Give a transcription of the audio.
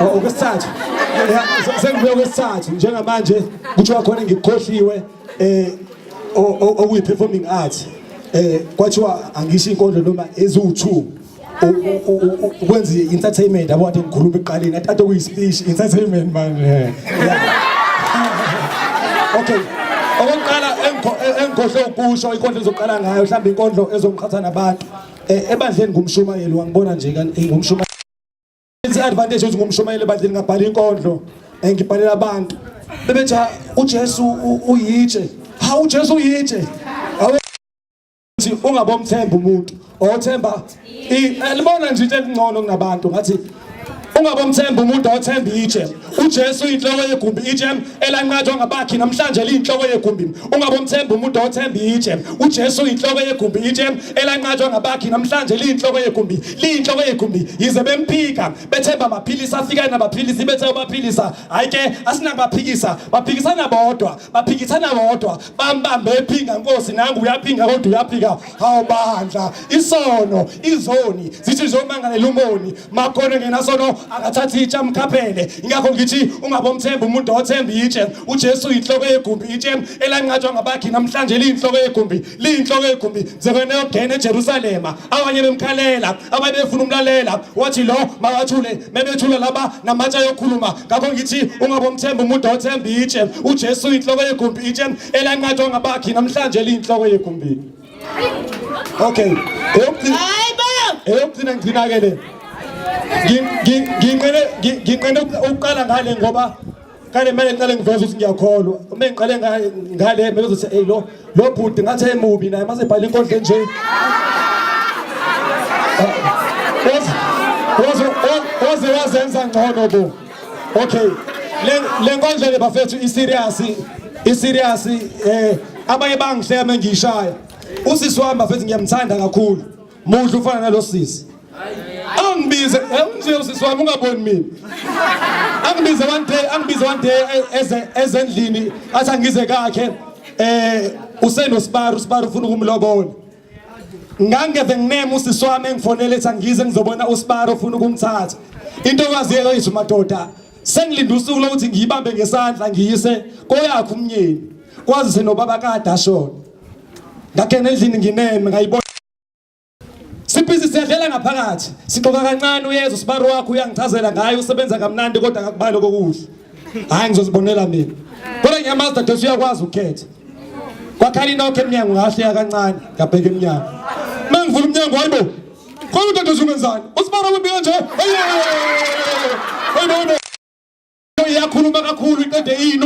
Oh, okwesithathu sengibuye okwesithathu njengamanje kuthiwa khona ngikukhohliwe eh okuyi performing art eh kwathiwa angisho inkondlo noma eziwu2 ukwenza entertainment yabo kade ngikhuluma eqaleni athathe kuyi speech entertainment manje okay okokuqala engikhohle ukusho inkondlo ezoqala ngayo mhlawumbe inkondlo ezongiqhatha nabantu eh, ebandleni ngumshumayeli wangibona nje eh, ngumshumayeli i-advantage ukuthi ngumshumayeli ebandleni ngabhala inkondlo eh, ngibhalela abantu bebethi ujesu uyitshe ha ujesu uyitshe ukuthi ungabomthemba umuntu othemba libona nje into elingcono kunabantu ngathi ungabomthemba umuntu othemba itshe uJesu inhloko yegumbi itshe elanqathwa ngabakhi namhlanje liyinhloko yegumbi ungabomthemba umuntu othemba itshe uJesu inhloko yegumbi itshe elanqathwa ngabakhi namhlanje liyinhloko yegumbi liyinhloko yegumbi yize bemphika bethemba amaphilisi afika nabaphilisi bethe ubaphilisa hayi ke asinakubaphikisa baphikisana bodwa baphikisana bodwa bambambe ephinga nkosi nangu uyaphinga kodwa uyaphika hawu bandla isono izoni zithi zomangalela umoni makhono ngenasono akathathi itshe amkhaphele ingakho ngithi ungabomthemba umuntu othemba itshe ujesu yinhloko yegumbi itshe elanqatshwa ngabakhi namhlanje liyinhloko yegumbi liyinhloko yegumbi sebeneyogena eJerusalema abanye bemkhalela abanye befuna umlalela wathi lo makathule mebethula laba namatsha yokhuluma ngakho ngithi ungabomthemba umuntu othemba itshe uJesu inhloko yegumbi itshe elanqathwa ngabakhi namhlanje liyinhloko yegumbi okay eyokugcina ngigcina-ke le nginqene ukuqala ngale ngoba kale mele ngiqale ngiveze ukuthi ngiyakholwa uma ngiqale ngale mele uzothi hey lo lo bhuti ngathi emubi naye mase bhala inkondlo nje waze waze wazenza ngcono bo okay le nkondlo le bafethu i serious i serious eh abanye bangihleme ngishaya usisi wami bafethu ngiyamthanda kakhulu Muhle ufana nalosisi. Angibize, unje usisi wami ungaboni mina. Angibize one day, angibize one day eh, eze ezendlini athi angize kakhe. Eh usenosparu, usparu ufuna ukumlobola. Ngangeve ngineme usisi wami engifonele ethi angize ngizobona usparu ufuna ukumthatha. Into kwaziyela yithi madoda sengilinda usuku lokuthi ngiyibambe ngesandla ngiyise koyakhe umnyeni kwazise nobaba kade ashona ngakena endlini ngineme ngayibona sibhizi siyadlela ngaphakathi sixoka kancane uyezwa usibari wakho uyangichazela ngaye usebenza kamnandi kodwa akakubali kokuhle hhayi ngizozibonela mina kodwa ngiyamazi dadesi uyakwazi ukukhetha kwakhala inokho emnyango ngahleya kancane ngabheka emnyango uma ngivula umnyango hayibo khona udadesi ungenzani usibari wembi kanje hayibo yakhuluma kakhulu iqede iyini